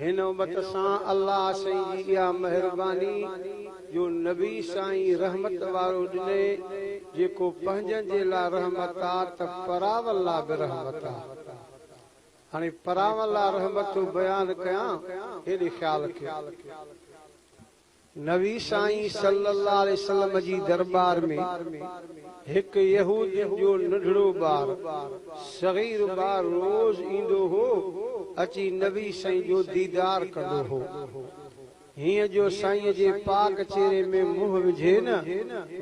هن امت سان الله سائين جي اها مهرباني جو نبي سائين رحمت وارو ڏنئي جيڪو پنهنجن جي لا رحمت آ ته پراون لا به رحمت آ هاڻي پراون لا رحمت ٿو بيان ڪيان هيڏي خيال ڪيو. نبي سائين صلّي اللّٰه عليه وسلّم جي درٻار ۾ هڪ يهودين جو ننڍڙو ٻار، صغير ٻار، روز ايندو هو، اچي نبي سائين جو ديدار ڪندو هو. هيئن جو سائينء جي پاڪ چهري ۾ منهن وجهي نه،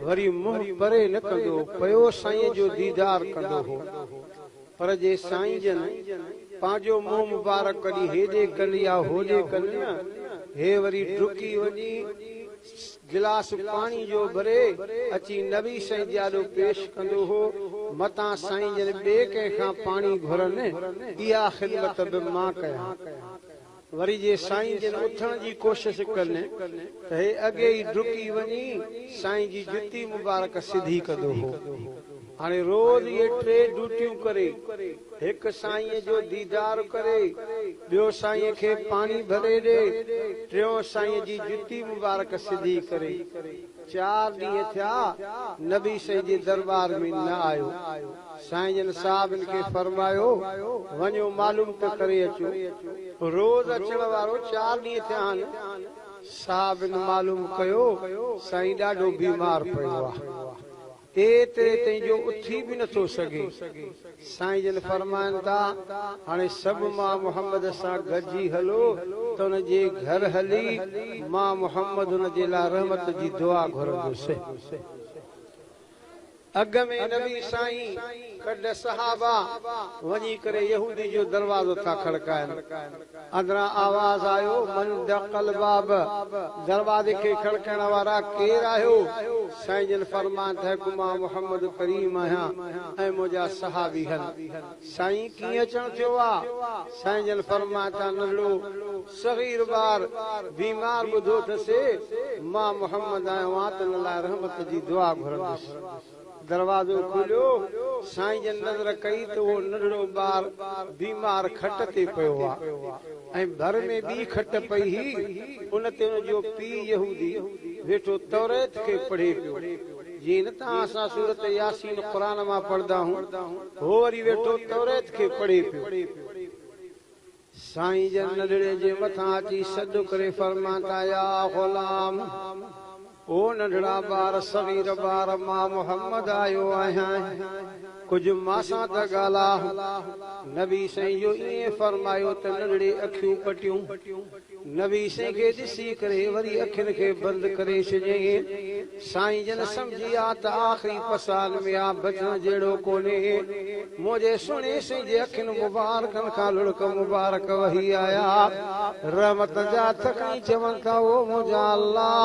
وري منهن پري نه ڪندو، پيو سائينء جو ديدار ڪندو هو. پر جي سائين جن پنهنجو منهن مبارڪ ڪڍي هيڏي ڪن يا هوڏي ڪن نه، هي وري ڊڪي وڃي گلاس پاڻي جو ڀري اچي نبي سائين جي آڏو پيش ڪندو هو، متان سائين جن ٻئي ڪنهن کان پاڻي گهرن، اها خدمت به مان ڪيان. وري جي سائين جن اٿڻ جي ڪوشش ڪن ته هي اڳي ئي ڊڪي وڃي سائين جي جتي مبارڪ سڌي ڪندو هو. هاڻي روز اهي ٽي ڊوٽيون ڪري، هڪ سائينء جو ديدار ڪري، ٻيو سائينء کي پاڻي ڀري ڏي، ٽيون سائينء جي جتي مبارڪ سڌي ڪري. چار ڏينهن ٿيا نبي سائين جي درٻار ۾ نه آيو. سائين جن صاحبن کي فرمايو، وڃو معلوم ته ڪري اچو. روز اچڻ وارو چار ڏينهن ٿيا آهن. صاحبن معلوم ڪيو، سائين ڏاڍو بيمار پيو آهي. ايتري تائين جو اٿي به نه ٿو سگهي. سائين جن فرمائن ٿا، هاڻي سڀ مان محمد سان گڏجي هلو ته ان جي گهر هلي مان محمد ان جي لاء رحمت جي دعا گهرندس. اڳ ۾ نبي سائين ڪڍ صحابه وڃي ڪري يهودي جو دروازو ٿا کڙڪائن. اندران آواز آيو، من دق الباب، دروازي کي کڙڪڻ وارا ڪير آهيو؟ سائين جن فرمائن ته مان محمد ڪريم آهيان ۽ منهنجا صحابي هن. سائين ڪيئن اچڻ ٿيو آ؟ سائين جن فرمائن ته ننڍڙو صغير ٻار بيمار ٻڌو ٿسي، مان محمد آيو آهيان تن لاء رحمت جي دعا گهرندس. دروازو کوليو، سائين جن نظر ڪئي ته اهو ننڍڙو ٻار بيمار کٽ تي پيو هو ۽ ڀر ۾ ٻي کٽ پئي هئي، ان تي ان جو پيء يهودي ويٺو توريت کي پڙهي پيو. جيئن نه توهان سان سورت ياسين قرآن مان پڙهندا هون، هو وري ويٺو توريت کي پڙهي پيو. سائين جن ننڍڙي جي مٿان اچي سڏ ڪري فرمان ٿا يا غلام! او ننڍڙا ٻار صغير ٻار مان محمد آيو آهيان ڪجهه مان سان ته ڳالهاء! نبي سائين جو ائين فرمايو ته ننڍڙي اکيون پٽيون. نبي سائين کي ڏسي ڪري وري اکين کي بند ڪري ڇڏيائين. سائين جن سمجهي ويا ته آخري پسال ۾ آ بچڻ جهڙو ڪونهي. منهنجي سهڻي سائين جي اکين مبارڪن کان لڙڪ مبارڪ وهي آيا. رحمت جا ٿڪ ۽ چون ٿا، او منهنجا الله!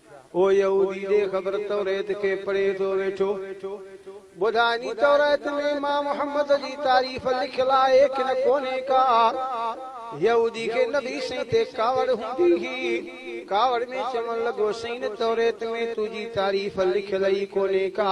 ڪو يهودي ڏي خبر توريت کي پڙهي ٿو ويٺو. ٻڌاء ني توريت ۾ مان محمد جي تعريف لکيل آهي ڪن ڪونهي ڪا. يهودي کي نبي سائين تي ڪاوڙ هوندي هئي. ڪاوڙ ۾ چوڻ لڳو سائين توريت ۾ تنهنجي تعريف لکيل ئي ڪونهي ڪا.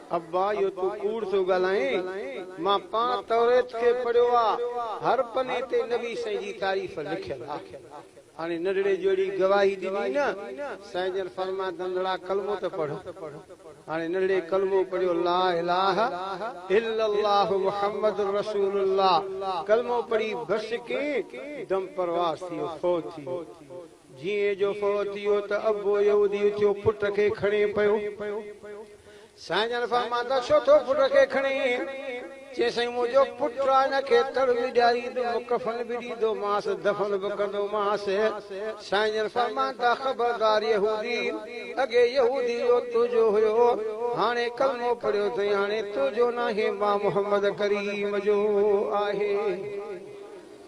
ابا اهو تون ڪوڙ ٿو ڳالهائين، مان پاڻ توريت کي پڙهيو آ، هر پني تي نبي سائين جي تعريف لکيل آ. هاڻي ننڍڙي جو اهڙي گواهي ڏني نه، سائين جن فرمايو ننڍڙا ڪلمو ته پڙهه. هاڻي ننڍڙي ڪلمو پڙهيو لا اله الا الله محمد رسول الله ڪلمو پڙهي بس ڪئين دم پرواز ٿي ويو، فوت ٿي ويو. جيئن جو فوت ٿي ويو ته ابو يهودي اٿيو پٽ کي کڻي پيو. سائين جن فرمايو ته ڇو ٿو پٽ کي کڻين؟ چيائين سائين منهنجو پٽ آ هن کي تڙ به ڏياريندم ڪفن به ڏيندومانس دفن به ڪندومانس. سائين جن فرمايو ته خبردار يهودي اڳي يهودي جو تنهنجو هيو هاڻي ڪلمو پڙهيو اٿئي هاڻي تنهنجو ناهي مان محمد ڪريم جو آهي.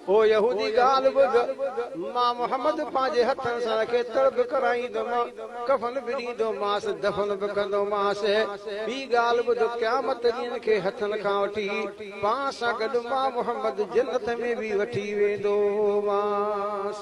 او يهودي ڳالهه ٻڌ، مان محمد پنهنجي هٿن سان کي تڙ به ڪرائيندومانء، ڪفن به ڏيندومانس، دفن به ڪندومانس. ٻي ڳالهه ٻڌ، قيامت ڏينهن کي هٿن کان وٺي، پاڻ سان گڏ مان محمد جنت ۾ به وٺي ويندومانس.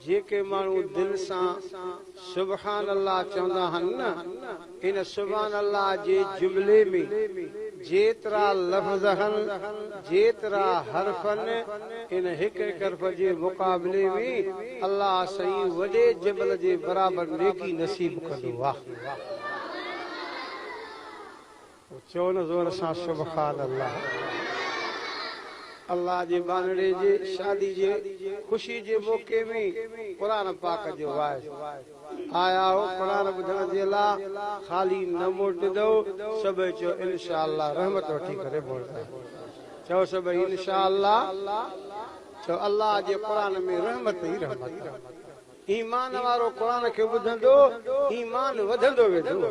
جيڪي ماڻهو دل سان سبحان الله چوندا آهن نه، ان سبحان الله جي جملي ۾ جيترا لفظ آهن، جيترا حرف آهن، ان هڪ هڪ حرف جي مقابلي ۾ الله سائين وڏي جبل جي برابر نيڪي نصيب ڪندو. واھ. اچو نه زور سان سبحان الله. الله جي ٻانهڙي جي شادي جي خوشي جي موقعي ۾ قرآن پاڪ جو واعظ آيا هو قرآن ٻڌڻ جي لا خالي نه موٽندؤ سڀئي چئو انشاء الله رحمت وٺي ڪري موٽندا چئو سڀئي انشاء الله چئو الله جي قرآن ۾ رحمت ئي رحمت آ ايمان وارو قرآن کي ٻڌندو ايمان وڌندو ويندو.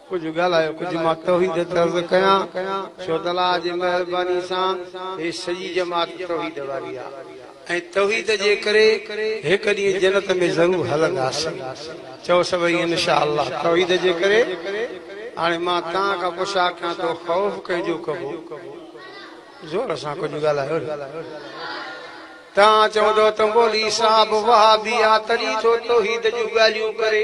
ڪجهه ڳالهايو ڪجهه مان توحيد تي عرض ڪيان ڇو ته الله جي مهرباني سان هي سڄي جماعت توحيد واري آهي ۽ توحيد جي ڪري هڪ ڏينهن جنت ۾ ضرور هلنداسين چئو سڀئي ان شاء الله توحيد جي ڪري هاڻي مان توهان کان پڇا ڪيان ٿو خوف ڪنهن جو ڪبو زور سان ڪجهه ڳالهايو توهان چوندو ته مولي صاحب وهابي آ تڏهن ٿو توحيد جون ڳالهيون ڪري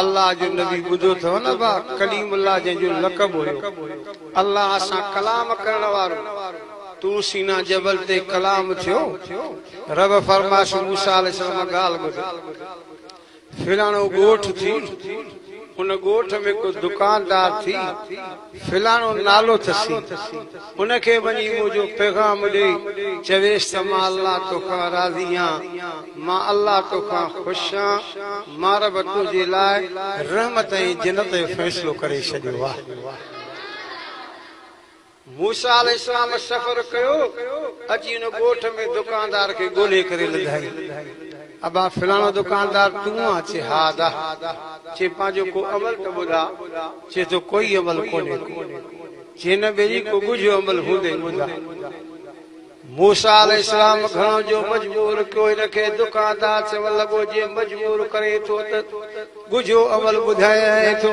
الله جو نبي ٻڌو ٿئو نه ڀاء ڪليم الله جنهن جو لقب هيو الله سان ڪلام ڪرڻ وارو طور سينا جبل تي ڪلام ٿيو رب فرمايس موسيٰ عليه السلام ڳالهه ٻڌ فلاڻو ڳوٺ ٿي ان ڳوٺ ۾ ڪو دڪاندار ٿي فلاڻو نالو ٿسي، ان کي وڃي منهنجو پيغام ڏي، چويس ته مان الله توکان راضي آهيان، مان الله توکان خوش آهيان، مان رب تنهنجي لاء رحمت ۽ جنت جو فيصلو ڪري ڇڏيو آهي. موسيٰ عليه السلام سفر ڪيو، اچي ان ڳوٺ ۾ دڪاندار کي ڳولهي ڪري لڌائين. ابا فلاڻو دڪاندار تون آن؟ چي ها ادا. چي پنهنجو ڪو عمل ته ٻڌاء. چي ٿو ڪوئي عمل ڪونهي ڪو. چي نه ٻيلي ڪو ڳجهو عمل هوندئي ٻڌاء. موسيٰ عليه السلام گهڻو جو مجبور ڪيو هن کي دڪاندار چوڻ لڳو جي مجبور ڪرين ٿو ته ڳجهو عمل ٻڌائين ٿو.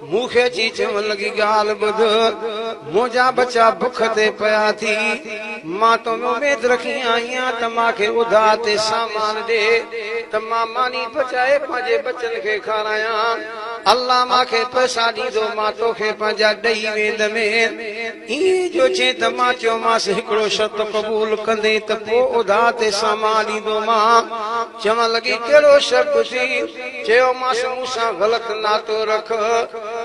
مون کي اچي چون لڳي ڳالهه ٻڌ، منهنجا ٻچا بک تي پيا ٿي، مان تو ۾ اميد رکي آئيان ته مان کي اڌا تي سامان ڏي ته مان ماني پچائي پنهنجي ٻچن کي کارايان. الله مان کي پئسا ڏيندو مان توکي پنهنجا ڏئي ويندمين. ائين جو چين ته مان چيومانس هڪڙو شرط قبول ڪندين ته پوء ادا تي سامان ڏيندومان. چوڻ لڳي ڪهڙو شرط ٿي؟ چيومانس مون سان غلط ناتو رک.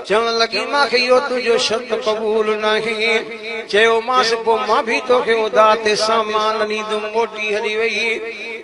چوڻ لڳي مان کي اهو تنهنجو شرط قبول ناهي. چيومانس پوء مان به توکي ادا تي سامان نه ڏيندوم موٽي هلي وئي.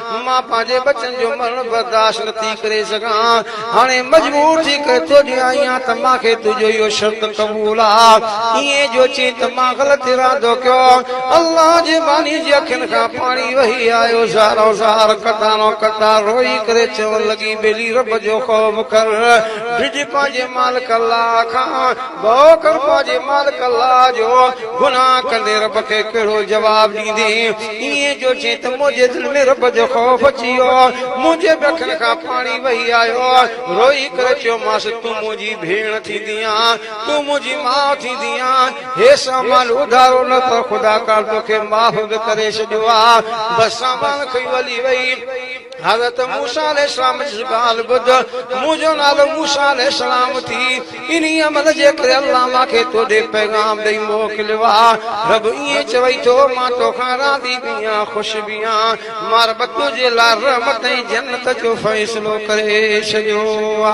مان پنهنجي ٻچن جو مرڻ برداشت نه ٿي ڪري سگهان، هاڻي مجبور ٿي ڪري تو ڏي آئي آهيان ته مان کي تنهنجو اهو شرط قبول آ. ائين جو چئين ته مان غلط ارادو ڪيو. الله جي باني جي اکين کان پاڻي وهي آيو، زارو زار، قطارو قطار روئي ڪري چوڻ لڳي، ٻيلي رب جو خوف ڪر، ڊڄ پنهنجي مالڪ الله کان، ڀؤ ڪر پنهنجي مالڪ الله جو، گناهه ڪندين رب کي ڪهڙو جواب ڏيندين؟ ايئن جو جيئن ته منهنجي دل ۾ رب جو خوف اچي ويو، منهنجي به اکين کان پاڻي وهي آيو، روئي ڪري چيومانس، تون منهنجي ڀيڻ ٿيندينء، تون منهنجي ماء ٿيندينء، هي سامان اڌارو نه ته خدا ڪالهه توکي معاف به ڪري ڇڏيو ها، بس سامان کڻي هلي وئي. حضرت موسيٰ عليه السلام جي ڳالهه ٻڌ، منهنجو نالو موسيٰ عليه السلام ٿي، انهيء عمل جي ڪري الله مان کي تو ڏي پيغام ڏئي موڪليو آ. رب ائين چوي ٿو، مان تو کان راضي به آهيان، خوش به آهيان، مان رب تنهنجي لاء رحمت ۽ جنت جو فيصلو ڪري ڇڏيو آ.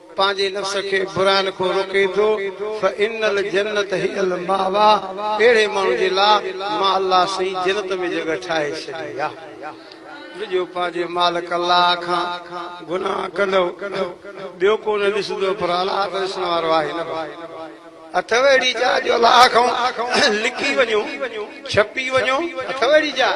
پنهنجي نفس کي برائين کان روڪي ٿو، فان الجنة هي الماويٰ اهڙي ماڻهو جي لاء مان الله سائين جنت ۾ جڳهه ٺاهي ڇڏي آ. ڊڄو پنهنجي مالڪ الله کان گناهه ڪندؤ ٻيو ڪو نه ڏسندؤ پر الله ته ڏسڻ وارو آهي نه ڀا. اٿئو اهڙي جاء جو الله کان لڪي وڃو، ڇپي وڃو، اٿئو اهڙي جاء؟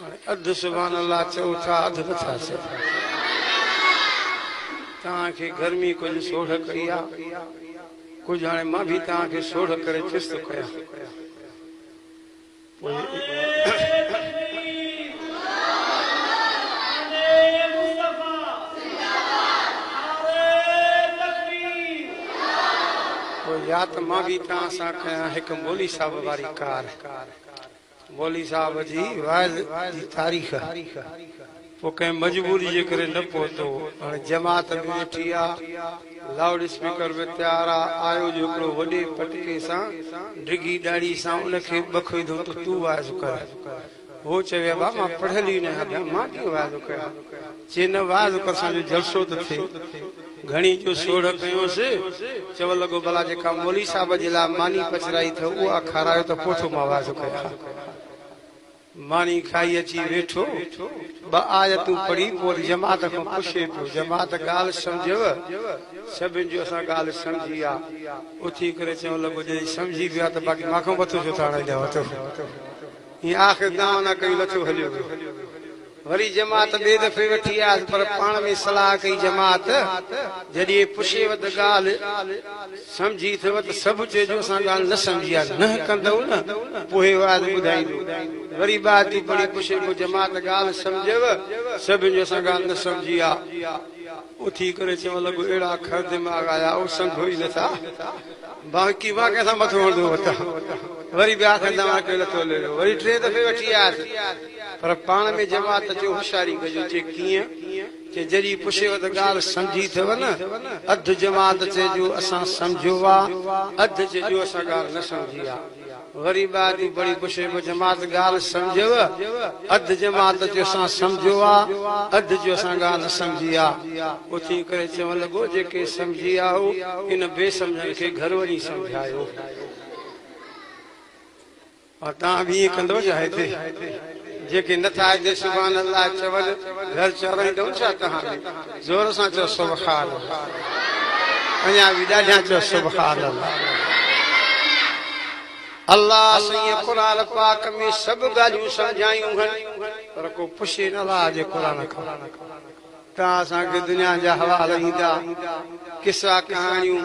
هاڻي اڌ سبحان الله چئو ٿا اڌ نٿا چئو. توهان کي گرمي ڪجهه سوڙهه ڪئي آ ڪجهه هاڻي مان به توهان کي سوڙهه ڪري ٿيس ٿو ڪيان پوء يا ته مان به توهان سان ڪيان هڪ مولوي صاحب واري ڪار. مولوي صاحب جي وعظ جي تاريخ، پوء ڪنهن مجبوري جي ڪري نه پهتو، هاڻي جماعت به ويٺي آ، لائوڊ اسپيڪر به تيار آ، آيو جو هڪڙو وڏي پٽڪي سان ڊگهي ڏاڙهي سان ان کي ٻکوي ڌو ته تون وعظ ڪر. هو چوي ابا مان پڙهيل ئي نه آهيان، مان ڪيئن وعظ ڪيان. چي نه وعظ ڪر سان جو جلسو ته ٿئي. گهڻي جو سوڙهه ڪيونس. چوڻ لڳو، ڀلا جيڪا مولوي صاحب جي لاء ماني پچرائي ٿو اها کارايو ته پوء ٿو مان وعدو ڪريان. ماني کائي اچي ويٺو. ٻه آيتون پڙهي پوء وري جماعت کان پڇي پيو. جماعت ڳالهه سمجهيو؟ سڀني چيو اسان ڳالهه سمجهي آ. اٿي ڪري چوڻ لڳو، جڏهن سمجهي پيا ته باقي مان کان مٿو ڇو ٿا هڻائيندا وتو. ائين آخر دانهن نه ڪيون لٿو هليو ويو. وري جماعت ٻئي دفعي وٺي آيس پر پاڻ ۾ صلاح ڪئي جماعت جڏهن پڇيو ته ڳالهه سمجهي ٿئو ته سڀ چئجو اسان ڳالهه نه سمجهي آهي نه ڪندئون نه پوء هي واعظ ٻڌائيندو وري ٻاجهٽي پڙهي پڇي پيو جماعت ڳالهه سمجهيو سڀ جو اسان ڳالهه نه سمجهي آهي اٿي ڪري چوڻ لڳو اهڙا کر دماغ آيا او سمجهو ئي نه ٿا باقي مان ڪنهن سان مٿو هڻندو وتان وري ٻيا کن دماغ ڪيو لٿو ليڙو وري ٽئين دفعي وٺي آيس پر پاڻ ۾ جماعت جو هوشياري ڪجو چي ڪيئن چي جڏهن پڇيو ته ڳالهه سمجهي اٿئو نه اڌ جماعت چئجو اسان سمجهيو آ اڌ چئجو اسان ڳالهه نه سمجهي آ وري ٻاهر جي پڙهي پڇيبو جماعت ڳالهه سمجهيو اڌ جماعت چئجو اسان سمجهيو آ اڌ چئجو اسان ڳالهه نه سمجهي آ اوچي ڪري چوڻ لڳو جيڪي سمجهي آيو ان بي سمجهن کي گهر وڃي سمجهايو. پر توهان به ائين ڪندؤ ڇا هتي جيڪي نه ٿا هتي سبحان الله چون گهر چورائيندؤ ڇا توهان به زور سان چؤ سبحان الله اڃا به ڏاڍيان چؤ سبحان الله الله سائين قرآن پاڪ ۾ سڀ ڳالهيون سمجهايون هن پر ڪو پڇي نه الله جي قرآن کان تان اسان کي دنيا جا حوال ايندا قصا ڪهاڻيون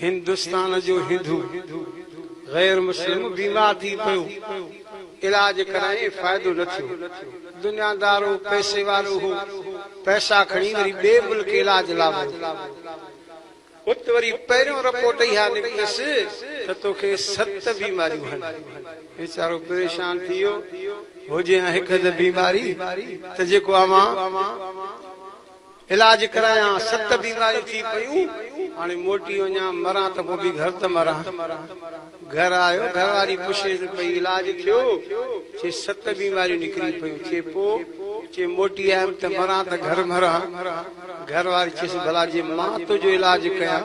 هندستان جو هندو غير مسلم بيمار ٿي پيو، علاج ڪرائين فائدو نه ٿيو، دنيا دار هو، پئسي وارو هو، پئسا کڻي وري ٻئي ملڪ علاج لا ويو، ات وري پهريون رپورٽ اها نڪتس ته توکي ست بيماريون هن، ويچارو پريشان ٿي ويو، هجي ها هڪ اڌ بيماري ته جيڪو اوهان. علاج ڪرايان ست بيماريون ٿي پيون هاڻي موٽي وڃان مران ته پوء به گهر ته مران گهر آيو گهر واري پڇيس پئي علاج ٿيو چي ست بيماريون نڪري پيون چي پوء چي موٽي آيم ته مران ته گهر مران گهر واري چيس ڀلا جي مان تنهنجو علاج ڪيان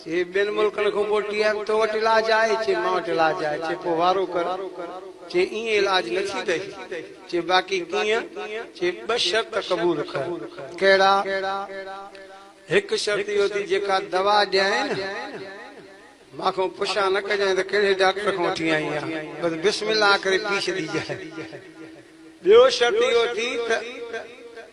چي ٻين ملڪن کان پوء ٽي ايم تو وٽ علاج آهي؟ چي مان وٽ علاج آهي. چي پوء وارو ڪر. چي ائين علاج نه ٿيندئي. چي باقي ڪيئن؟ چي ٻه شرط قبول ڪر. ڪهڙا؟ هڪ شرط اهو ٿي جيڪا دوا ڏيانء نه، مان کان پڇا نه ڪجانء ته ڪهڙي ڊاڪٽر کان وٺي آئين آهين، بس بسم الله ڪري پي ڇڏيجانء. ٻيو شرط اهو ٿي ته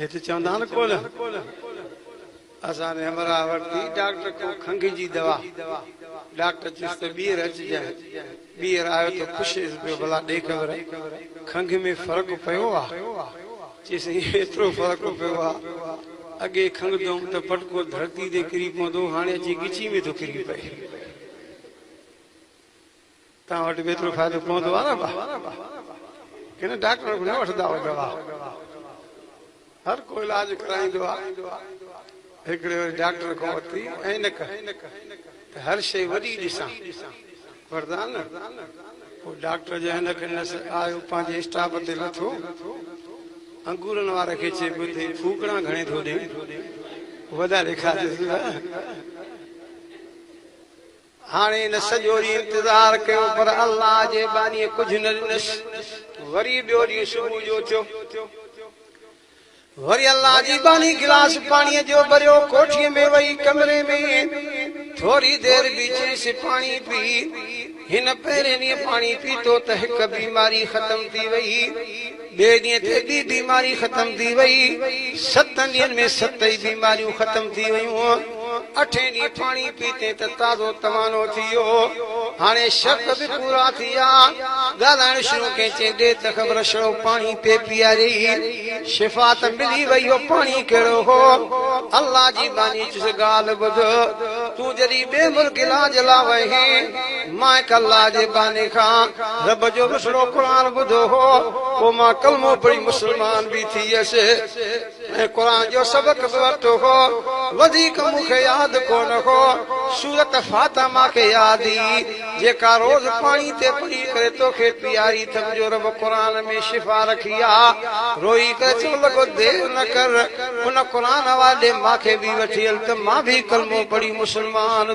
هت چوندا آهن ڪول اسان ري همراهه ورتي ڊاڪٽر کان کنگهه جي دوا ڊاڪٽر چيس ته ٻيهر اچجانء ٻيهر آيو ته پڇيس پيو ڀلا ڏي خبر کنگهه ۾ فرق پيو آ چيس ايئن ايترو فرق پيو آ اڳي کنگهه دوم ته پٽڪو ڌرتي تي ڪري پوندو هاڻي اچي ڳچي ۾ ٿو ڪري پئي. توهان وٽ به ايترو فائدو پوندو آ نه ڀا ڪنهن ڊاڪٽر کان نه وٺنداء دوا هر ڪو علاج ڪرائيندو آ هڪڙي وري ڊاڪٽر کان ورتي عينڪ ته هر شيء وڏي ڏسان وردا نه پوء ڊاڪٽر جو عينڪ ڏنس آيو پنهنجي اسٽاپ تي لٿو انگورن واري کي چي پيو ٿي ڦوڪڙا گهڻي ٿو ڏي وڏا ڏيکارجيس هاڻي هن سڄو ڏينهن انتظار ڪيو پر الله جي ٻانهيء ڪجهه نه ڏنس. وري ٻيو ڏينهن صبح جو ٿيو. وري الله جي ٻانهي گلاس پاڻيء جو ڀريو، ڪوٺيء ۾ ويئي ڪمري ۾ ٿوري دير بيهي چيس، پاڻي پي. هن پهرين ڏينهن پاڻي پيتو ته هڪ بيماري ختم ٿي ويئي. ٻئي ڏينهن تي ٻي بيماري ختم ٿي وئي. ستن ڏينهن ۾ ست ئي بيماريون ختم ٿي ويون. اٺين ڏينهن پاڻي پيتي ته تازو توانو ٿي ويو. هاڻي شق به پورا ٿي ويا. ڳالهائڻ شروع ڪئين چيائين، ڏيت خبر ڇڙو پاڻي پئي پياريئي. شفا ته ملي وئي اهو پاڻي ڪهڙو هو. الله جي ٻانهي چيس ڳالهه ٻڌ. تون جڏهن ٻئي ملڪ علاج لاء وئين. مان هڪ الله جي ٻانهي کان رب جو مصرعو قرآن ٻڌو هو، پوء مان ڪلمو پڙهي مسلمان به ٿي ويس ۽ قرآن جو سبق به ورتو هو. وڌيڪ مون کي ياد ڪونه هو. سورت فاتحه مان کي ياد هئي، جيڪا روز پاڻي تي پڙهي ڪري تو کي پياري اٿم جو رب قرآن ۾ شفا رکي آ. روئي ڪري چوڻ لڳو دير نه ڪر، ان قرآن حوالي ڏي مان کي به وٺي هل ته مان به ڪلمو پڙهي مسلمان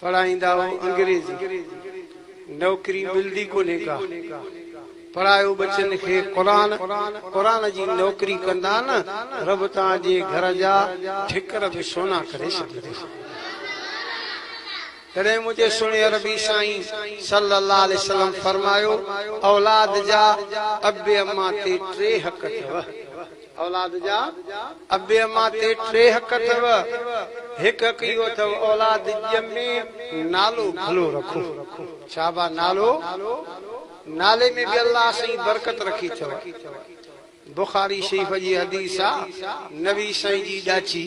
پڙهائيندا هو انگريزي نوڪري ملدي ڪونهي ڪا پڙهايو ٻچن کي قرآن قرآن جي نوڪري ڪندا نه رب تان جي گهر جا ٺڪر به سونا ڪري ڇڏيندس تڏهن منهنجي سهڻي عربي سائين صلي الله عليه وسلم فرمايو اولاد جا ابي اما تي ٽي حق اٿو اولاد جا ابي امان تي ٽي حق اٿو. هڪ حق اهو اٿو اولاد ڄمي نالو ڀلو رکو. شابه نالو نالي ۾ به الله سائين برڪت رکي اٿو. بخاري شريف جي حديث آ نبي سائين جي ڏاچي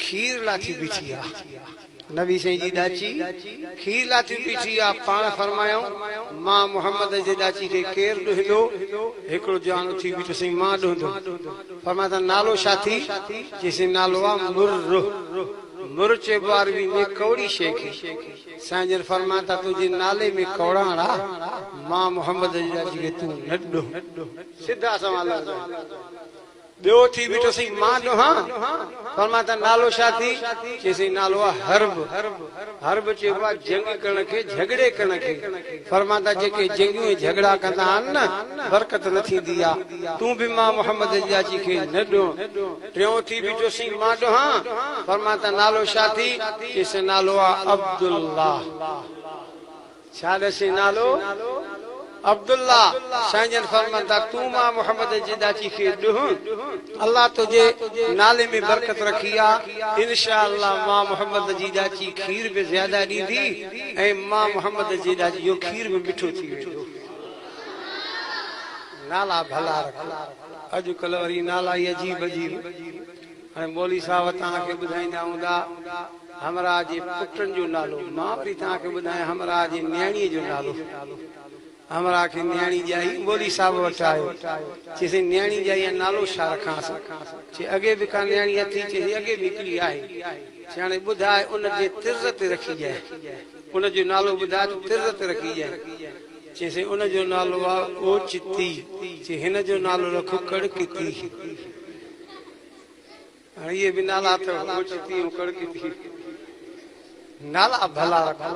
کير لاٿي بيٺي آ. نبي سائين جي ڏاچي کير لاٿي بيٺي آ، پاڻ فرمايائون، مان محمد جي ڏاچي کي ڪير ڏهندو؟ هڪڙو جوان اٿي بيٺو، سائين مان ڏهندم. فرمايائون ته نالو ڇا ٿي؟ چيسين نالو آ مره. مره چئبو آ عربي ۾ ڪوڙي شيء کي. سائين جن فرمايائون ته تنهنجي نالي ۾ ڪوڙاڻ آ، مان محمد جي ڏاچي کي تون نه ڏهه. سڌا سنئون لفظ آهن. ٻيو ٿي بيٺو سين مان ڏوهان. فرمان ته نالو ڇا ٿي؟ چيسين نالو آ حرب. حرب چئبو آ جنگ ڪرڻ کي، جهڳڙي ڪرڻ کي. فرمان ته جيڪي جنگيون ۽ جهڳڙا ڪندا آهن نه، برڪت نه ٿيندي آ. تون به مان محمد جي ڄاچي کي نه ڏون. ٽيون ٿي بيٺو سين مان ڏوهان. فرمان ته نالو ڇا ٿي؟ چيسين نالو آ عبدالله. ڇا ڏسين نالو عبدالله سائين جن فرمايو ته تون مان محمد جي ڏاچي کي ڏهون الله تنهنجي نالي ۾ برڪت رکي آ انشاء الله مان محمد جي ڏاچي کير به زياده ڏيندي ۽ مان محمد جي ڏاچي جو کير به مٺو ٿي ويندو نالا ڀلا رکو اڄ ڪلهه وري نالا ئي عجيب عجيب. هاڻي مولوي صاحب توهان کي ٻڌائيندا هوندا همراهه جي پٽن جو نالو، مان وري توهان کي ٻڌايان همراهه جي نياڻيء جو نالو. همراهه کي نياڻي ڄائي مولوي صاحب وٽ آيو. چيس سائين نياڻي ڄائي ها نالو ڇا رکانس؟ چي اڳي به ڪا نياڻي اٿئي؟ چيس سائين اڳي به هڪڙي آهي. چي هاڻي ٻڌاء ان جي طرز تي رکي ڄائي. ان جو نالو ٻڌاء ته طرز تي رکي ڄائي. چيس سائين ان جو نالو آهي اوچتي. چي هن جو نالو رکو ڪڙڪتي. اهي به نالا اٿئو ڳوٺ تيون ڪڙڪي ٿي نالا ڀلا رکو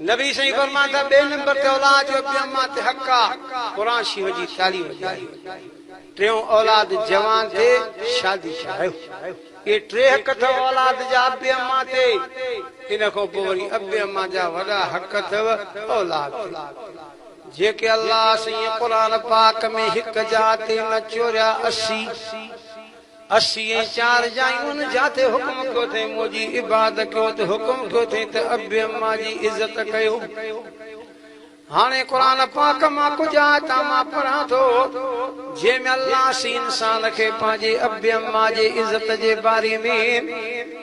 نبي سائين فرمان ٿا ٻي نمبر تي اولاد جو ابي اما تي حق آ قرآن شيو جي تعليم ڏياري ٽيون اولاد جوان تي شادي ڪرايو اي ٽي حق ٿو اولاد جا ابي اما تي ان کان پوء وري ابي اما جا وڏا حق ٿو اولاد تي جيڪي الله سائين قرآن پاڪ ۾ هڪ جاء تي نه چوريا اسي اسي ۽ چار جايون ان جاء تي حڪم ڪيو ٿئين منهنجي عباد ڪيو ته حڪم ڪيو ٿئين ته ابي اما جي عزت ڪيو هاڻي قرآن پاڪ مان ڪجهه آيتان مان پڙهان ٿو جنهن ۾ الله سائين انسان کي پنهنجي ابي اما جي عزت جي باري ۾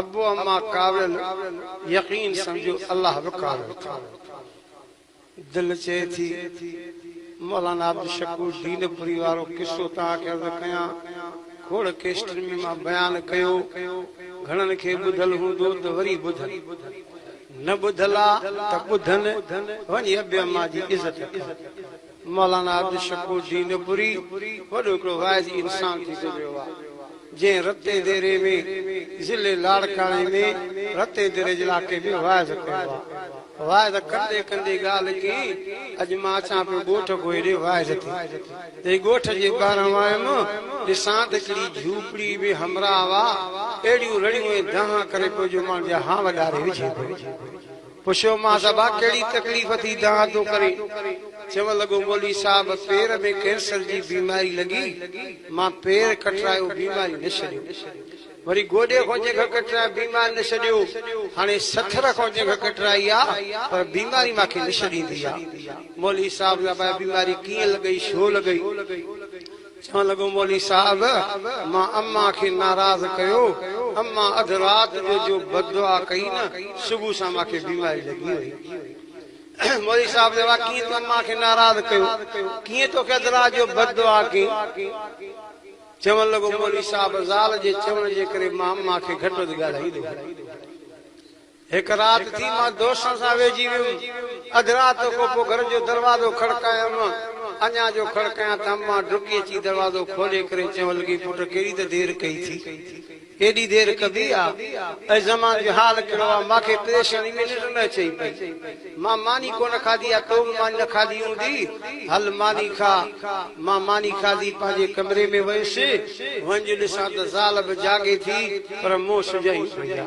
ابو اما ڪاوڙيل، يقين سمجهو الله به ڪاوڙيل ٿو. دل چئي ٿي مولانا عبدالشڪور دينپوري وارو قصو توهان کي عرض ڪيان. کوڙ ڪيسٽن ۾ مان بيان ڪيو. گهڻن کي ٻڌل هوندو ته وري ٻڌن. نه ٻڌل آ ته ٻڌن. وڃي ابي اما جي عزت ڪر. مولانا عبدالشڪور دينپوري وڏو هڪڙو واعظي انسان ٿي گذريو آهي، جنهن رتين ديري ۾ ضلعي لاڙڪاڻي ۾ رتين ديري جي علائقي ۾ واعظ ڪيو آهي. واعظ ڪندي ڪندي ڳالهه ڪئين، اڄ مان اچان پيو ڳوٺ ڪو هيڏي واعظ تي. جڏهن ڳوٺ جي ٻاهران ويم، ڏسان ته هڪڙي جهوپڙي ۾ همراهه اهڙيون رڙيون ۽ دانهن ڪري پيو جو ماڻهن جا هانء ڏاري وجهي پيو. پڇيومانس ابا ڪهڙي تڪليف ٿي دانهن ٿو ڪرين؟ چوڻ لڳو مولوي صاحب پير ۾ ڪينسر جي بيماري لڳي مان پير ڪٽرايو بيماري نه ڇڏيو وري گوڏي کان جنگهه ڪٽرايو بيماري نه ڇڏيو هاڻي سٿر کان جنگهه ڪٽرائي آ پر بيماري مان کي نه ڇڏيندي آ مولوي صاحب لاء بيماري ڪيئن لڳئي ڇو لڳئي؟ چوڻ لڳو مولوي صاحب مان اما کي ناراض ڪيو، اما اڌ رات جو جو بددعا ڪئي نه صبح سان مان کي بيماري لڳي وئي. مولوي صاحب چيو وا ڪيئن تو اما کي ناراض ڪيو، ڪيئن توکي اڌ رات جو بددعا ڪئين؟ چوڻ لڳو مولوي صاحب زال جي چوڻ جي ڪري مان اما کي گهٽ وڌ ڳالهائيندو هيم. هڪ رات ٿي مان دوستن سان ويهجي ويم. اڌ رات کان پوء گهر جو دروازو کڙڪايم. اڃا جو کڙڪايان ته امان ڊڪي اچي دروازو کولي ڪري چيڻ لڳي پٽ ڪيڏي ته دير ڪئي ٿي. ايڏي دير ڪبي آ. اي زمان جو حال ڪهڙو آ. مان کي پريشاني ۾ ننڊ نه اچي پئي. مان ماني ڪونه کاڌي آ. تو به ماني نه کاڌي هوندي. هل ماني کا. مان ماني کاڌي پنهنجي ڪمري ۾ ويس. وڃي ڏسان ته زال به جاڳي ٿي پر مون سجهائي پئي آ.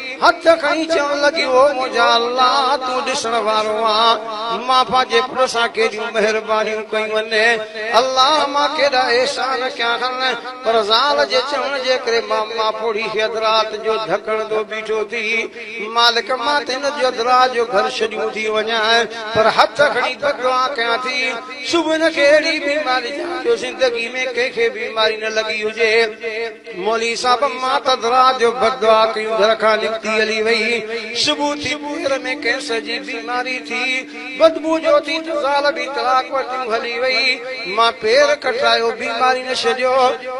هٿ کڻي چوڻ لڳي، او منهنجا الله! تون ڏسڻ وارو آهين، مان پنهنجي پٽ سان ڪيڏيون مهربانيون ڪيون آهن. الله! مان ڪيڏا احسان ڪيا آهن. پر زال جي چوڻ جي ڪري مان ماپوڙهي کي اڌ رات جو ڌڪڻندو بيٺو ٿي. مالڪ! مان ته هن جو اڌ رات جو گهر ڇڏيون ٿي وڃان، پر هٿ کڻي بددعا ڪيان ٿي. صبح هن کي اهڙي بيماري ڏيان جو زندگي ۾ ڪنهن کي بيماري نه لڳي هجي. مولوي صاحب ماتدرا جو بدعا ڪيون گهر کان نڪتي هلي وئي صبح ٿي پير ۾ ڪينسر جي بيماري ٿي بدبو جو ٿي ته زال به طلاق وٺيون هلي وئي مان پير ڪٽرايو بيماري نه ڇڏيو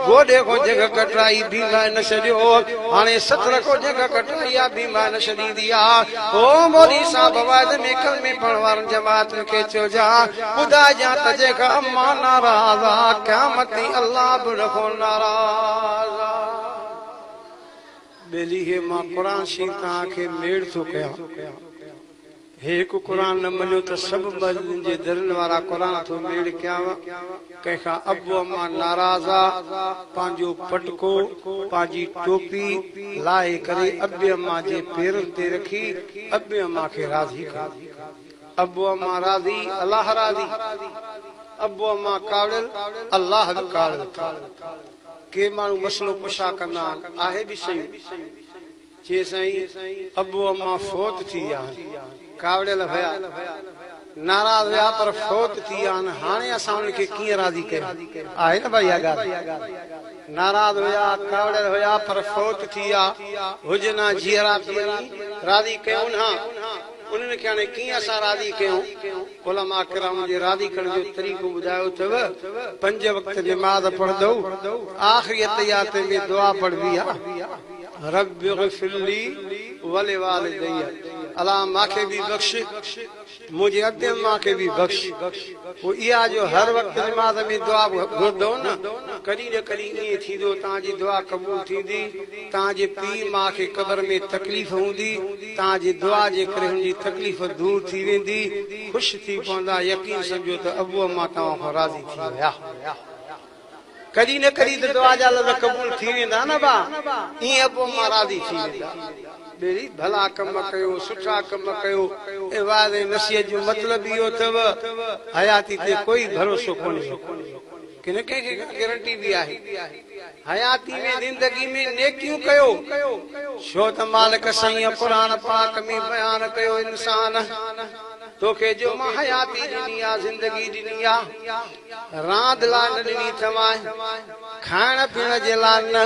گوڏي کان جنگهه ڪٽرائي بيماري نه ڇڏيو هاڻي ستر کان جنگهه ڪٽرائي آ بيماري نه ڇڏيندي آ او مولوي صاحب واعظ ۾ ڪلمي پڙهڻ وارن جماعتن کي چئجان ٻڌائجان ته جيڪا امان ناراض آ، قيامتي الله به ان کان ناراض آ. ٻيلي هي مان قرآن شريف توهان کي ميڙ ٿو ڪيان. هي هڪ قرآن نه مڃو ته سڀ مسجدن جي درن وارا قرآن ٿو ميڙ ڪيانء. ڪنهن کان ابو امان ناراض آ، پنهنجو پٽڪو، پنهنجي ٽوپي، لاهي ڪري ابي امان جي پيرن تي رکي ابي امان کي راضي ڪيو. ابو اما راضي الله راضي ابو اما ڪاوڙيل الله به ڪاوڙيل ٿا ڪي ماڻهو مسئلو ڪشا ڪندا آهن آهي به سيون چي سائين ابو اما فوت ٿي ويا آهن ڪاوڙيل هيا ناراض هيا پر فوت ٿي ويا آهن هاڻي اسان انهن کي ڪيئن راضي ڪيون آهي نه ڀائي اها ڳالهه ناراض هيا ڪاوڙيل هيا پر فوت ٿي ويا هجن ها جيئرا ته وڃي راضي ڪيون ها. انهن کي هاڻي ڪيئن اسان راضي ڪيون؟ علماء ڪرام جي راضي ڪرڻ جو طريقو ٻڌايو اٿئو، پنج وقت نماز پڙهندؤ، آخري اتحيات ۾ دعا پڙهبي آ، رب اغفر لي ولوالدي، الا ماکي به بخش، منهنجي ابي امان کي به بخش، پوء اها جو هر وقت نماز ۾ دعا گهردئو نه، ڪڏهن نه ڪڏهن ائين ٿيندو، توهان جي دعا قبول ٿيندي. توهان جي پيء ماء کي قبر ۾ تڪليف هوندي، توهان جي دعا جي ڪري هن جي تڪليف دور ٿي ويندي، خوش ٿي پوندا، يقين سمجهو ته ابو اما توهان کان راضي ٿي ويا. ڪڏهن نه ڪڏهن ته دعا جا لفظ قبول ٿي ويندا نه ڀاء، ائين ابو اما راضي ٿي ويندا. ٻيلي، ڀلا ڪم ڪيو، سٺا ڪم ڪيو، اي وعظ ۽ نصيحت جو مطلب اهو اٿئو، حياتي تي ڪوئي ڀروسو ڪونهي. ڪنھن کي ڪا گرنٽي به آھي؟ حياتي ۾ زندگي ۾ نيڪيون ڪيو، ڇو ته مالڪ سائينء قرآن پاڪ ۾ بيان ڪيو انسان! توکي جو مان حياتي ڏني آ، زندگي ڏني آ، راند لاء نه ڏني اٿمانء، کائڻ پيئڻ جي لاء نه.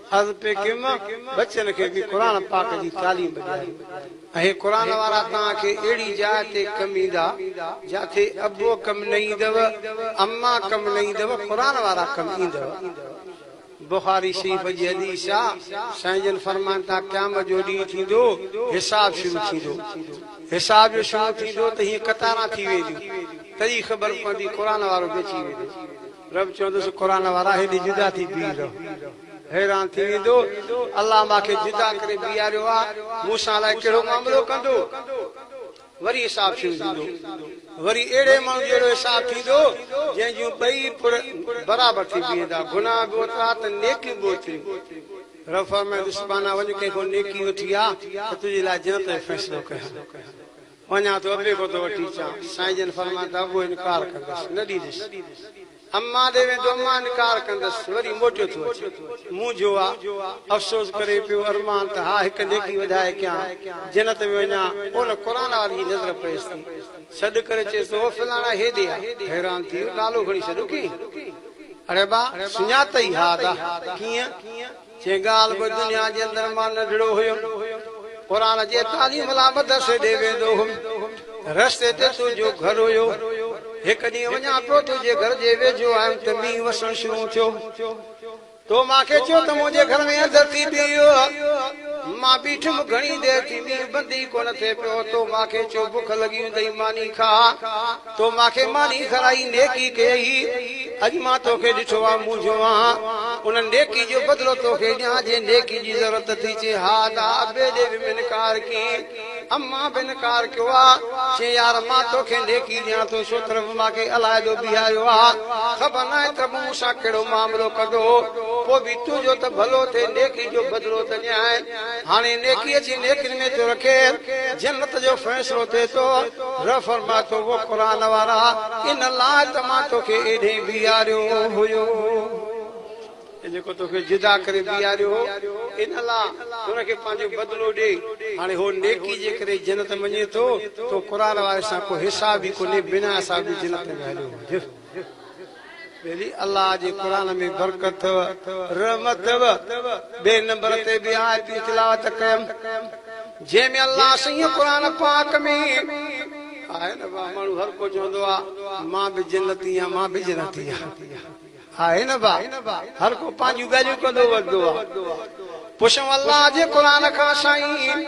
حضرت ڪيم بچن کي به قرآن پاڪ جي تعليم ڏياري ۽ هي قرآن وارا توهان کي اهڙي جاء تي ڪم ايندا جاٿي ابو ڪم نه ايندو اما ڪم نه ايندو قرآن وارا ڪم ايندو بخاري شريف جي حديث آ سائين جن فرمائن ٿا قيامت جو ڏينهن ٿيندو حساب شروع ٿيندو حساب جو شروع ٿيندو ته هيئن قطاران ٿي وينديون تڏهن خبر پوندي قرآن وارو به اچي ويندو رب چوندس قرآن وارا هيڏي جدا ٿي بيهي رهو حيران ٿي ويندو الله مان کي جدا ڪري بيهاريو آ مون سان الائي ڪهڙو معاملو ڪندو وري حساب شروع ٿيندو وري اهڙي ماڻهو جهڙو حساب ٿيندو جنهن جون ٻئي پڙ برابر ٿي بيهندا گناهه به اوترا ته نيڪيون به اوتريون رب فرمائيندس ٻانها وڃ ڪنهن کان نيڪي وٺي آ ته تنهنجي لاء جنت جو فيصلو ڪيان. وڃان ٿو ابي کان ٿو وٺي اچان. سائين جن فرمايائون ته ابو انڪار ڪندس، نه ڏيندس. امان ڏي ويندو، امان انڪار ڪندس، وري موٽيو ٿو اچي. مونجهيو آ. افسوس ڪري پيو. ارمان ته ها هڪ نيڪي وڌائي ڪيان، جنت ۾ وڃان. ان قرآن واري جي نظر پيس ٿي. سڏ ڪري چيس ٿو، او فلاڻا هيڏي آ. حيران ٿي ويو، نالو کڻي سڏيو ڪئين؟ اڙي ابا! سڃاتئي؟ ها ادا! ڪيئن؟ جنهن ڳالهه به دنيا جي اندر مان ننڍڙو هيم، قرآن جي تعليم لاء مدرسي ڏي ويندو هيم. رستي تي تنهنجو گهر هيو. هڪ ڏينهن وڃان پيو تنهنجي گهر جي ويجهو آيم ته مينهن وسڻ شروع ٿيو. تو مان کي چيو ته منهنجي گهر ۾ اندر ٿي بيهه. مان بيٺم. گهڻي دير ٿي مينهن بند ئي ڪونه ٿئي پيو. تو مان کي چيو بک لڳي هوندئي ماني کاء. تو مان کي ماني کارائي نيڪي ڪيئي، اڄ مان تو کي ڏٺو آ مونجهيو آهان، ان نيڪي جو بدلو تو کي ڏيان، جي نيڪي جي ضرورت ٿي چي ها ادا، بيدي به انڪار ڪئي، امان به انڪار ڪيو آ، چي يار مان تو کي نيڪي ڏيان ٿو، ڇو طرف مان کي علائحدو بيهاريو آ، خبر ناهي ته مون سان ڪهڙو معاملو ڪندو، پوء به تنهنجو ته ڀلو ٿئي نيڪي جو بدلو ته ڏيانء. هاڻي نيڪيء جي نيڪين ۾ ٿو رکي، جنت جو فيصلو ٿئي ٿو. رب فرمائي ٿو، او قرآن وارا! ان لاء ته مان توکي ايڏهين بيهاريو هيو ۽ جيڪو توکي جدا ڪري بيهاريو هو، ان لاء ان کي پنهنجو بدلو ڏي. هاڻي هو نيڪيء جي ڪري جنت ۾ وڃي ٿو، تو قرآن واري سان ڪو حساب ئي ڪونهي، بنا حساب جي جنت ۾ هليو وڃ. ڀيلي الله جي قرآن ۾ برڪت اٿو رحمت اٿو ٻئي نمبر تي به آيتون تلاوت ڪيم جنهن ۾ الله سائين قرآن پاڪ ۾ آهي نه با ماڻهو هر ڪو چوندو آ مان به جنتي آ مان به جنتي آ آهي نه با هر ڪو پنهنجون ڳالهيون ڪندو وڌو آ پڇون الله جي قرآن کان سائين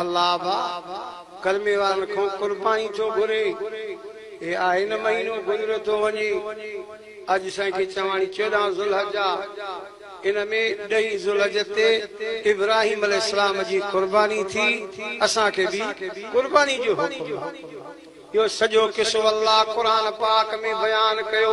الله با ڪلمي وارن کون قرباني ٿو گهري هي آهي نه مهينو گذريو ٿو وڃي اڄ سائين کي چواڻي چوڏهن ذوالحج آ ان ۾ ڏهين ذوالحج تي ابراهيم عليه السلام جي قرباني ٿي اسان کي به قرباني جو حڪم آ اهو سڄو قصو الله قرآن پاڪ ۾ بيان ڪيو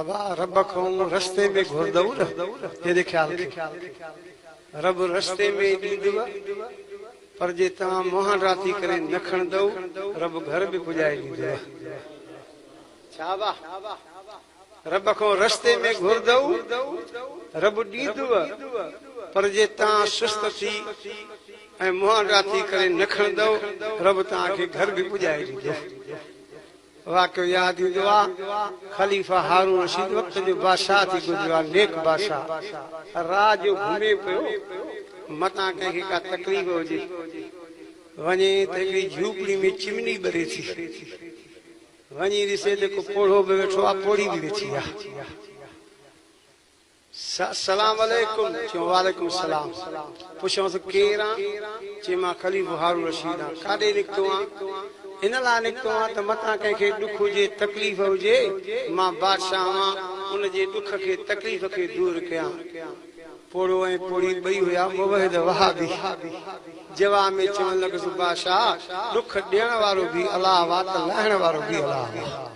ابا رب کان رستي ۾ گهردئو نه تنهنجي خيال کي رب رستي ۾ ڏيندو پر جي توهان مهان راتي ڪري نه کڻندئو رب گهر به پڄائي ڏيندو ڇا ابا رب کان رستي ۾ گهردئو رب ڏيندو پر جي توهان سست ٿي ۽ مهان راتي ڪري نه کڻندئو رب توهان کي گهر به پڄائي ڏيندو. واقعو ياد ايندو آ، خليفه هارون رشيد وقت جو بادشاهه ٿي گذريو آ، نيڪ بادشاهه راء جو گهمي پيو، متان ڪنهن کي ڪا تڪليف هجي، وڃي ته هڪڙي جهوپڙي ۾ چمني ٻري ٿي، وڃي ڏسي ته ڪو پوڙهو به ويٺو آ، پوڙهي به ويٺي آ. سلام عليڪم، چيو وعليڪم السلام، پڇيوس ڪير آن؟ چيم مان خليفو هارون رشيد آن، ڪاڏي نڪتو آن؟ ان لاء نڪتو آن ته متان ڪنهن کي ڏک هجي تڪليف هجي، مان بادشاهه هئان ان جي ڏک کي تڪليف کي دور ڪيان. پوڙهو ۽ پوڙهي ٻئي هيا موحد وهابي، جواب ۾ چوڻ لڳس بادشاهه ڏک ڏيڻ وارو به الله هئا ته لاهڻ وارو به الله هئا.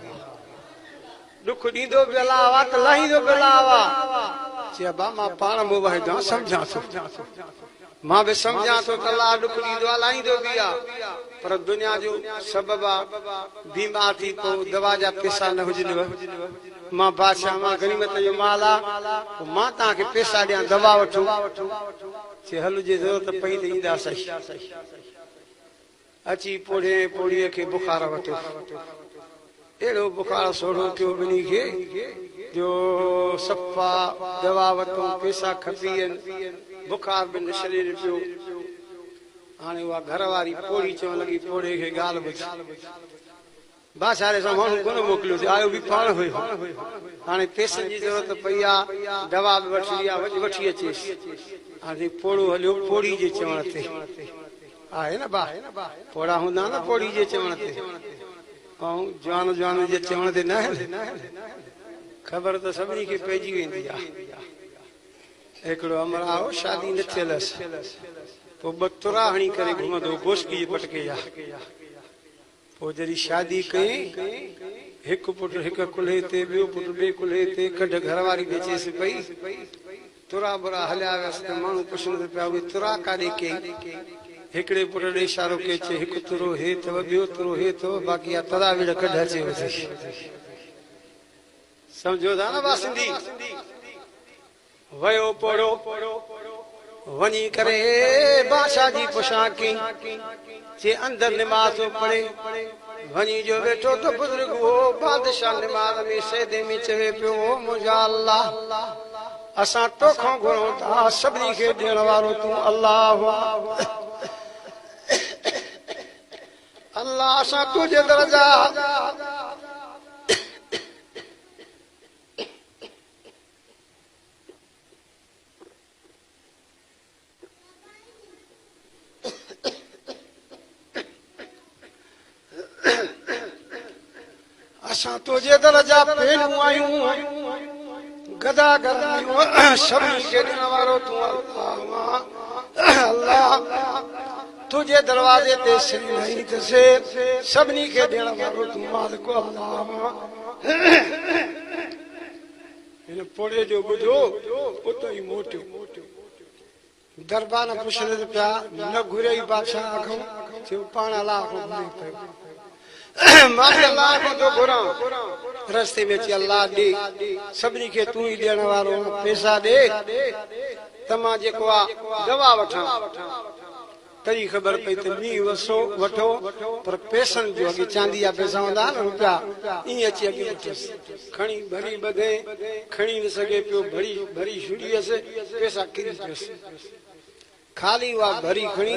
ڏک ڏيندو به الله هوا ته لاهيندو به الله هوا. چي ابا مان پاڻ مون وحيدان سمجهان ٿو. مان به سمجهان ٿو ته الله ڏک ڏيندو آ لاهيندو به آ. پر دنيا جو سبب آ. بيمار ٿي پئون دوا جا پيسا نه هجنو. مان بادشاهه مان غنيمت جو مال آ. پوء مان توهان کي پيسا ڏيان دوا وٺو. چي هل جي ضرورت پئي ته اينداسين. اچي پوڙهينء پوڙهيء کي بخار وتو. اهڙو بخار سوڙهو ڪيو ٻنهي کي جو صفا دوا وتون، پيسا کپيئن، بخار به نشري نپيو. هاڻي اها گهر واري پوڙهي چوڻ لڳي، پوڙهي کي ڳالهه ٻڌ. باچاري سان ماڻهو ڪونه موڪليو سي آيو به پاڻ هيو هاڻي پيسن جي ضرورت پئي آ دوا به وٺڻي آ وڃ وٺي اچيس هاڻي سائين پوڙهو هليو پوڙهي جي چوڻ تي آهي نه با پوڙها هوندا آهن نه پوڙهي جي چوڻ تي ائون جوان جوانن جي چوڻ تي نه آهن خبر ته سڀني کي پئجي ويندي آ هڪڙو امرا هو شادي نه ٿيل هس پوء ٻه ترا هڻي ڪري گهمندو هو گوشڪي جي پٽڪي جا پوء جڏهن شادي ڪيائين، هڪ پٽ هڪ ڪلهي تي، ٻيو پٽ ٻئي ڪلهي تي، ڪڍ گهر واري به اچيس پئي. ترا برا هليا ويس ته ماڻهو پڇنس پيا، اهي ترا ڪاڏي ڪيائين؟ هڪڙي پٽ ڏي اشارو ڪيائين، چيائين، هڪ ترو هي اٿو، ٻيو ترو هي اٿو، باقي اها ترا وڙهه ڪڍ اچي وڌي. سمجهو ٿا نه ڀا سنڌي؟ ويو پوڙهو وڃي ڪري بادشاهه جي پوشاڪ ڪئي چي اندر نماز ٿو پڙهي وڃي جو ويٺو ته بزرگ هو بادشاهه نماز ۾ سجدي ۾ چوي پيو او منهنجا الله اسان توکان گهرون ٿا سڀني کي ڏيڻ وارو تون الله الله اسان تنهنجي در جا اسان تنهنجي در جا پيرون آهيون گدا گرميون سڀني کي ڏيڻ وارو تون الله الله تنهنجي دروازي تي سري وهي ته سي سڀني کي ڏيڻ وارو تون مالڪ الله هن پوڙهي جو ٻڌو اتو ئي موٽيو. دربان پڇڻين پيا، نه گهريئي بادشاهه اکئون، ٿيو پاڻ الله کان گهري پيو. ماڻهي الله کان ٿو گهران، رستي ۾ اچي الله ڏي، سڀني کي تون ئي ڏيڻ وارو آن، پئسا ڏي ته مان جيڪو آ دوا وٺان. ته ئي خبر پئي ته مينهن وسو وٺو پر پئسن جو اڳي چاندي جا پئسا هوندا ها نه روپيا ائين اچي اڳي وٺيس کڻي ڀري ٻڌي کڻي نه سگهي پيو ڀري ڀري ڇڏيس پئسا ڪري پيس خالي هئا ڀري کڻي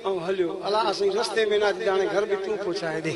ائون هليو الا سائين رستي ۾ نه اچ جاڻي گهر به تون پهچائي ڏي.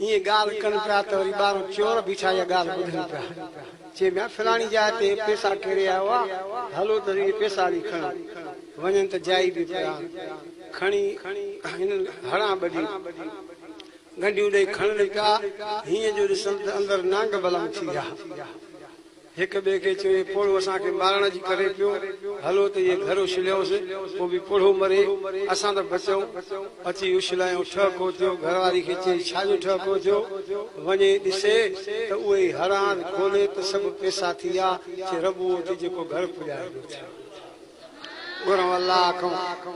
ائين ڳالهه ڪن پيا ته وري ٻاهران چور بيٺا اها ڳالهه ٻڌن پيا. چئن پيا فلاڻي جاء تي پيسا ڪيري آيو آ، هلو ته اهي پيسا هلي کڻون. وڃن ته جائي به پيا کڻي هنن هڙان ٻڏي ڳنڍيون ڏئي کڻن پيا. هينئن جو ڏسن ته اندر نانگ بلم ٿي ويا. هڪ ٻئي کي چوي پوڙهو اسان کي مارڻ جي ڪري پيو هلو ته اهي گهر اڇليائونس پوء به پوڙهو مري اسان ته بچيون اچي اڇلايون ٺهه ڪو ٿيو گهر واري کي چئي ڇا جو ٺهه ڪو ٿيو وڃي ڏسي ته اهو ئي هڙهان کولي ته سڀ پئسا ٿي ويا چي رب اهو ٿي جيڪو گهر پڄائي ويو ٿي گهرون الله کان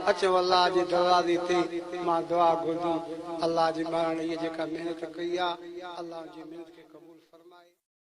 اچيون الله جي دروازي تي مان دعا گهرجون الله جي مهراڻي هيء جيڪا محنت ڪئي آهي الله ان جي محنت کي قبول فرمائي.